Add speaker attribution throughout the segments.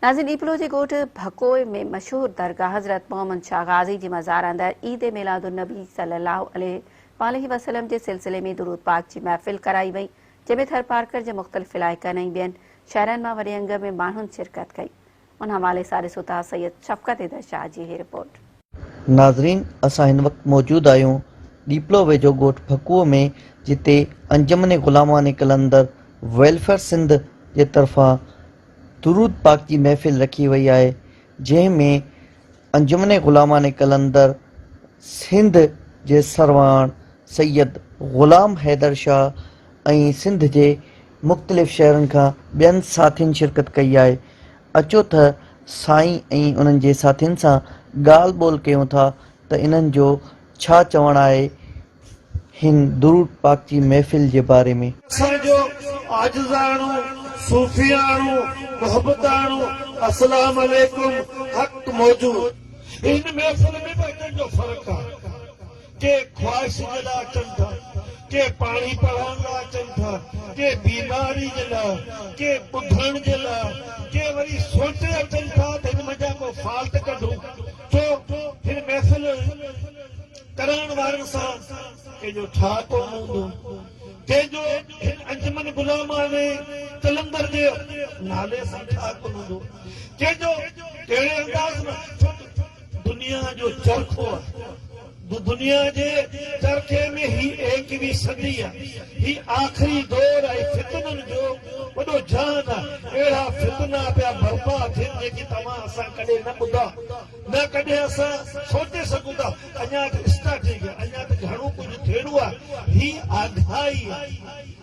Speaker 1: ناظرين ڏيپلو جي ڳوٺ ڀڪوء ۾ مشهور درگاهه حضرت محمد شاهه غازي جي مزار اندر عيد ميلاد النبي صلي الله عليه واٰله وسلم جي سلسلي ۾ درود پاڪ جي محفل ڪرائي وئي جنهن ۾ ٿرپارڪر جي مختلف علائقن ۽ ٻين شهرن مان وڏي انگ ۾ ماڻهن شرڪت ڪئي ان حوالي سان ڏسو ٿا سيد شفقت حيدر شاهه جي هي رپورٽ. ناظرين
Speaker 2: اسان هن وقت موجود آهيون ڏيپلو ويجهو ڳوٺ ڦڪوء ۾ جتي انجمن غلامواني قلندر ويلفيئر سنڌ جي طرفان درود پاڪ جي محفل رکي وئي آهي جنهن ۾ انجمن غلامواني قلندر سنڌ جي سرواڻ سيد غلام حيدر شاهه ۽ سنڌ جي مختلف شهرن کان ٻين ساٿين شرڪت ڪئي آهي اچو تھ سائين ۽ انھن جي ساٿين سان ڳالھھ ٻولھھ ڪيون ٿا تھ انھن جو ڇا چوڻ آھي ھن درود پاڪ جي محفل جي باري ۾. اسان جو
Speaker 3: عاجزاڻو، صوفياڻو، محبتاڻو اسلام عليڪم حق موجود. ان محفل ۾ به اچڻ جو فرق آ. ڪي خواهش جي لاء اچن ٿا، ڪي پاڻي پڙهائڻ لاء اچن ٿا، ڪي بيماري جي لاء، ڪي ٻڌڻ جي لاء، ڪي وري سوچي اچن ٿا ته هن منجهان ڪو فالٽ ڪڍون ڇو هن محفل ڪرائڻ وارن سان ڪنهن جو ٺاء ڪونه هوندو ڪنهن جو هن انجمن غلامانه قلندر جي نالي سان ٺاء ڪونه هوندو ڪنهن جو ڪهڙي انداز مان ڇو ته دنيا جو چرخو آهي. دنيا جي چرخي ۾ هي ايڪويهين صدي آهي. هي آخري دور ۽ فتنن جو وڏو جهان آهي. اهڙا فتنا پيا برپا ٿين جيڪي توهان اسان ڪڏهن نه ٻڌا، نه ڪڏهن اسان سوچي سگهون ٿا. اڃا ته اسٽارٽنگ آهي. اڃا ته گهڻو ڪجهه ٿيڻو آهي. هي آگاهي آهي.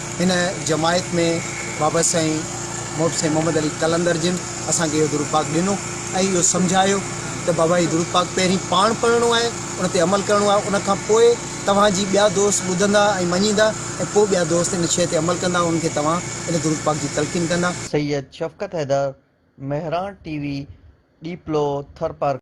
Speaker 4: هن جماعت ۾ بابا سائين محب سائين محمد علي قلندر جن اسان کي اهو درود پاڪ ڏنو ۽ اهو سمجهايو ته بابا هي درود پاڪ پهرين پاڻ پڙهڻو آهي ان تي عمل ڪرڻو آهي ان کان پوء توهان جي ٻيا دوست ٻڌندا ۽ مڃيندا ۽ پوء ٻيا دوست ان شيء تي عمل ڪندا انهن کي توهان ان درود پاڪ جي تلقين ڪندا. Syed
Speaker 2: Shafqat Haider, Mehran T V,
Speaker 4: Diplo,
Speaker 2: Tharparkar.